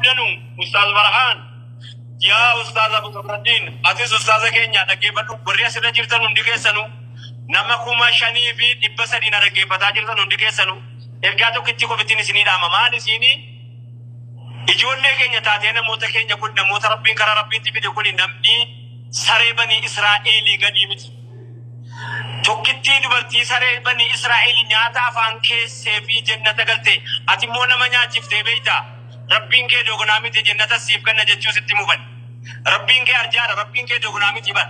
Danuu Ustaaz Farhaan yaa Ustaaz Abu Zabraddin atis Ustaaza keenya dhaggeeffadhu warri asirra jirtan hundi keessanu nama kuma shanii fi dhibba sadii na dhaggeeffataa jirtan hundi keessanu ergaa tokkitti qofittiin isinii dhaama maal isiinii ijoollee keenya taatee namoota keenya kun namoota rabbiin karaa rabbiitti fide kun namni saree banii Israa'eelii gadii miti. Tokkittii dubartii saree banii Israa'eelii nyaata afaan keessee fi jennata galte ati immoo nama nyaachiftee beektaa? Rabbiin kee dogonaa miti jennatas siif kenna jechuu sitti mufani. Rabbiin kee arjaadha Rabbiin kee dogonaa miti bar.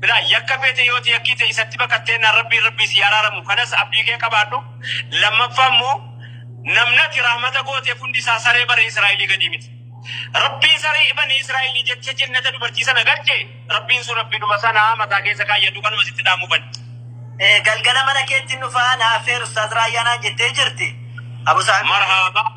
Bilaa yakka feete yooti yakkii ta'e isatti baqatteennaan Rabbiin Rabbii sii araaramu kanas abdii kee qabaadhu. Lammaffaa immoo namni ati rahmata gooteef hundi isaa saree bani Israa'ilii gadii miti. Rabbiin saree bani Israa'ilii jecha jennata dubartii sana galche Rabbiin sun Rabbiidhuma sana mataa keessa kaayyadhu kanuma sitti dhaamufani. Galgala mana keettin dhufaa na affeeri ustaaz Raayyaa naan jettee jirti. Abu Saamir. Marhaabaa.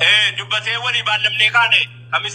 Ee, dubbatee walii baallamnee kaane. Kamis